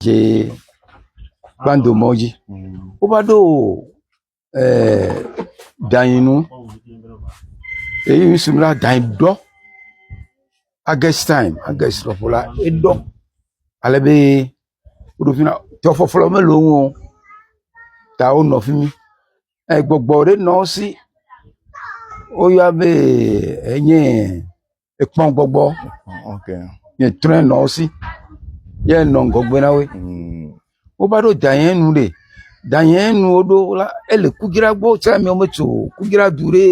dze kpando mɔ dzi. Wova ɖo e danyi nu eyi ŋsi be danyi ɖɔ. Agɛst tayimu, agɛst lɔƒo la eɖɔ ale be woɖo ƒi na tɔ ƒɔƒlɔ mele wo ŋu o ta wonɔ fi mi. Egbɔgbɔ ɖe nɔ wo si woyɔa be enye. ekpɔ gbɔgbɔ nye trɔ nɔ wo si ye nɔ ŋgɔgbe na wo mm. wova ɖo danye nu ɖe danye nu woɖo la ele kudzra gbɔ tsɛ mi wome tso kudzra du ɖe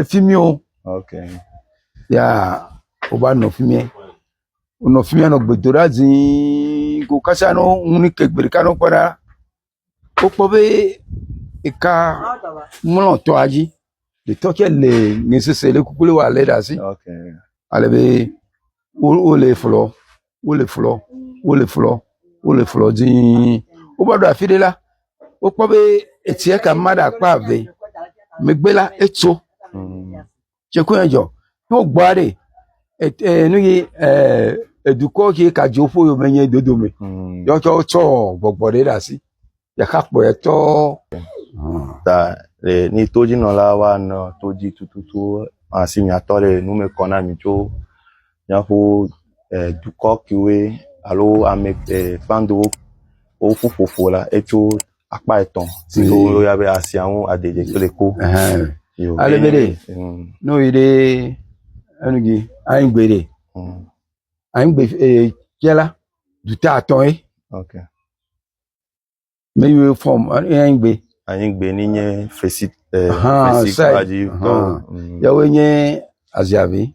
efi mi o ya wova nɔ fi mi wonɔ fi mi nɔ gbedoɖa zii ko kasa nɔ ŋu ni ke gbe ɖeka nɔ kpɔ ɖa. wokpɔ be eka mlɔ tɔa dzi, etɔ tsɛ le nɛ sese ɖe kuku wowɔ le ɖe asi ale be wole flɔ wole flɔ wole flɔ wole flɔ dii. Wova ɖo afi ɖe la, wokpɔ be etsia kama ɖe akpa eve megbe la etso. tsikue dzɔ to gbɔ aɖe e nu yi e dukɔ ke ka dzo ƒe yome nye dodo me mm. ye wotsɔ tsɔ gbɔgbɔ ɖe ɖe asi ɖeka kpɔe tɔ. ta le ni to dzi nɔla wa nɔ to dzi tututu asi nyatɔ le nu me kɔ na mi tso miaƒo e dukɔ kiwe alo ame e kpandowo woƒu ƒoƒo la etso akpa etɔ̃ si woyɔna be asia ŋu adede kple ku. Ale be ɖe ne woyi ɖe enu dzi anyigbe ɖe anyigbe tia la dute atɔ̃ ye. Me yi wo fɔm anyigbe. Anyigbe ni nye fesi fesi kura dzi. Yawoe nye aziavi.